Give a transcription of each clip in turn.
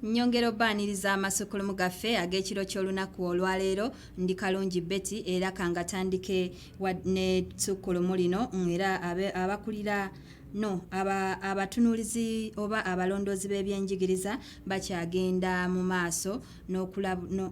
nyongera obaaniriza amasukulumu gaffe ag'ekiro ky'olunaku olwaleero ndi kalungi betty era kangatandike ne sukkulumu lino era abakulira no aba abatunulizi oba abalondoozi b'ebyenjigiriza bakyagenda mu maaso n'okulab no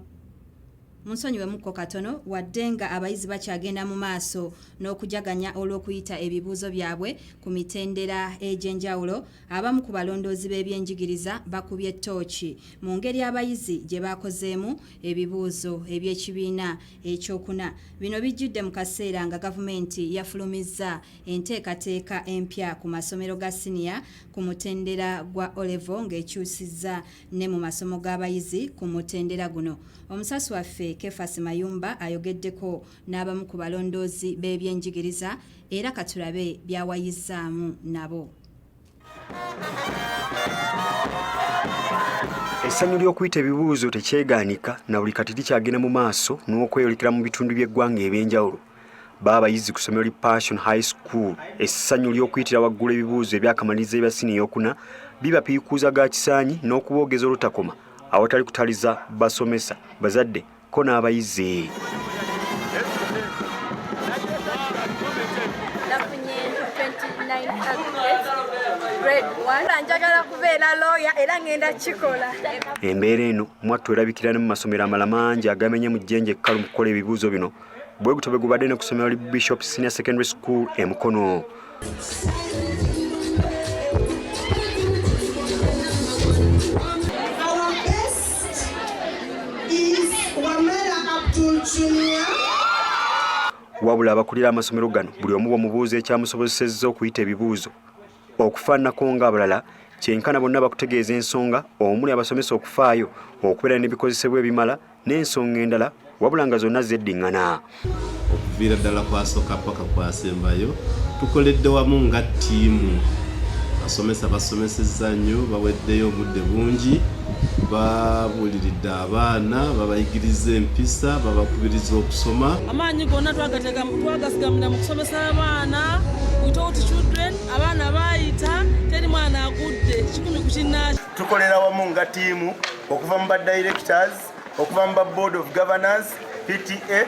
munsonyiwemukko katono wadde nga abayizi bakyagenda mu maaso n'okujaganya olw'okuyita ebibuuzo byabwe ku mitendera egy'enjawulo abamu ku balondoozi b'ebyenjigiriza bakubye ttooki mu ngeri abayizi gye baakozeemu ebibuuzo eby'ekibiina ekyokuna bino bijjidde mu kaseera nga gavumenti yafulumizza enteekateeka empya ku masomero ga siniya ku mutendera gwa olevo ng'ekyusizza ne mu masomo g'abayizi ku mutendera guno. Omusasi waffe Kefas Mayumba ayogeddeko n'abamu ku balondoozi b'ebyenjigiriza era katulabe byawayizzaamu nabo. Essanyu ly'okuyita ebibuuzo tekyegaanika na buli kati likyagenda mu maaso n'okweyolekera mu bitundu by'eggwanga eby'enjawulo. baabayizi ku ssomero li passion high school essanyu ly'okuyitira waggulu ebibuuzo ebyakamaliriza ebya sini eyokuna bibapiikuuza ga kisaanyi n'okuboogeza olutakoma awatali kutaliza basomesa bazadde ko n'abayizi embeera eno mwattu erabikira ne mu masomero amalamangi agamenye mu jjenje ekkalu mu kukola ebibuuzo bino bwe gutyo bwe gubadde ne ku ssomero li bishop senior secondary school e mukono wabula abakulira amasomero gano buli omu bwemubuuza ekyamusobozesezza okuyita ebibuuzo Okufaananako ng'abalala, kyenkana bonna bakutegeeza ensonga omuli abasomesa okufaayo, okubeera n'ebikozesebwa ebimala n'ensonga endala wabula nga zonna zeddingana. Okuviira ddala ku asooka ppaka ku asembayo tukoledde wamu nga ttiimu. Abasomesa basomesezza nnyo, baweddeyo, obudde bungi. babuuliridde abaana babayigiriza empisa babakubiriza okusoma amaanyi gonna twagasigamira mu kusomesa abaana without children abaana baayita teri mwana agudde kikumi ku kinnaaki tukolera wamu nga tiimu okuva mu ba directors okuva mu ba board of governors pta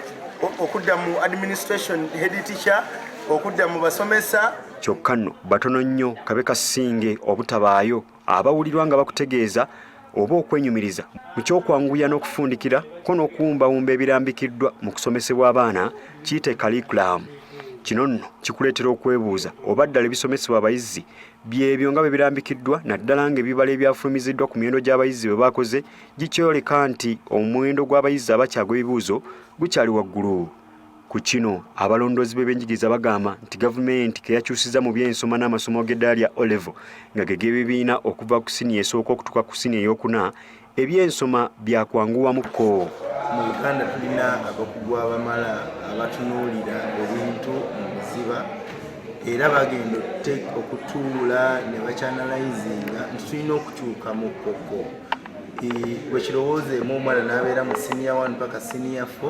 okudda mu administration head teacher okudda mu basomesa kyokka nno batono nnyo kabe kasinge obutabaayo abawulirwa nga bakutegeeza oba okwenyumiriza mu ky'okwanguya n'okufundikira ko n'okuwumbawumba ebirambikiddwa mu kusomesebwa abaana kiyite kalikulamu kino nno kikuleetera okwebuuza oba ddala ebisomesebwa abayizi byebyo nga bwe birambikiddwa naddala ng'ebibala ebyafulumiziddwa ku miwendo gy'abayizi bwe baakoze gikyoleka nti omuwendo gw'abayizi abakyagwa ebibuuzo gukyali waggulu Ku kino abalondoozi b'ebyenjigiriza bagamba nti gavumenti ke yakyusizza mu by'ensoma n'amasomo g'eddala lya O-Level nga ge g'ebibiina okuva ku siniya esooka okutuuka ku siniya eyokuna, eby'ensoma byakwanguwamukko. Mu Uganda tulina abakugu abamala abatunuulira ebintu mu buziba era bagenda okutuula ne bakyanalayzinga nti tulina okukyuka mu kkokko. Bwe kirowoozeemu omwana n'abeera mu siniya 1 paka siniya 4.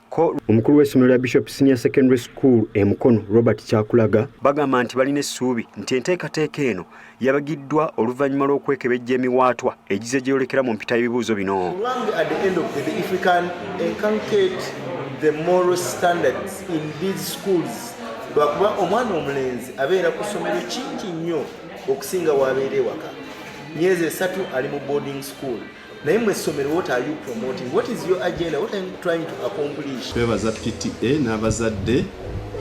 omukulu w'essomero lya bishop senior secondary school e mukono robert kyakulaga bagamba nti balina essuubi nti enteekateeka eno yabagiddwa oluvannyuma lw'okwekebejja emiwaatwa egize gyeyolekera mu mpita y'ebibuuzo bino lwakuba omwana omulenzi abeera ku ssomero kingi nnyo okusinga waabeera ewaka myezi esatu ali mu boarding school naye mwe essomero what are you promoting what is your agenda what are you trying to accomplish twebaza pta n'abazadde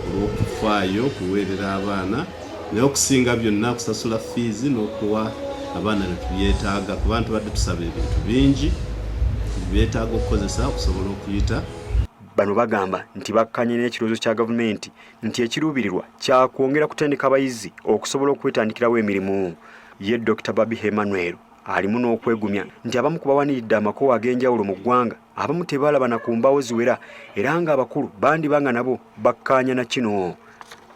olw'okufaayo okuweerera abaana naye okusinga byonna kusasula fiizi n'okuwa abaana betubyetaaga ku bantu badde tusaba ebintu bingi byetaaga okukozesa okusobola okuyita bano bagamba nti bakkanye n'ekirowoozo kya gavumenti nti ekiruubirirwa kyakwongera kutendeka abayizi okusobola okwetandikirawo emirimu ye dr babi hemanuel alimu n'okwegumya nti abamu ku bawaniridde amakowa ag'enjawulo mu ggwanga abamu tebaalaba na ku mbaawo ziwera era ng'abakulu bandiba nga nabo bakkaanya na kino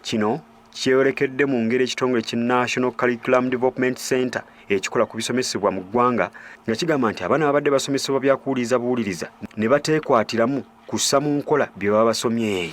kino kyeyolekedde mu ngeri ekitongole ki national curriculum development center ekikola ku bisomesebwa mu ggwanga nga kigamba nti abaana babadde basomesebwa byakuwuliriza buwuliriza ne bateekwatiramu kussa mu nkola bye baba basomye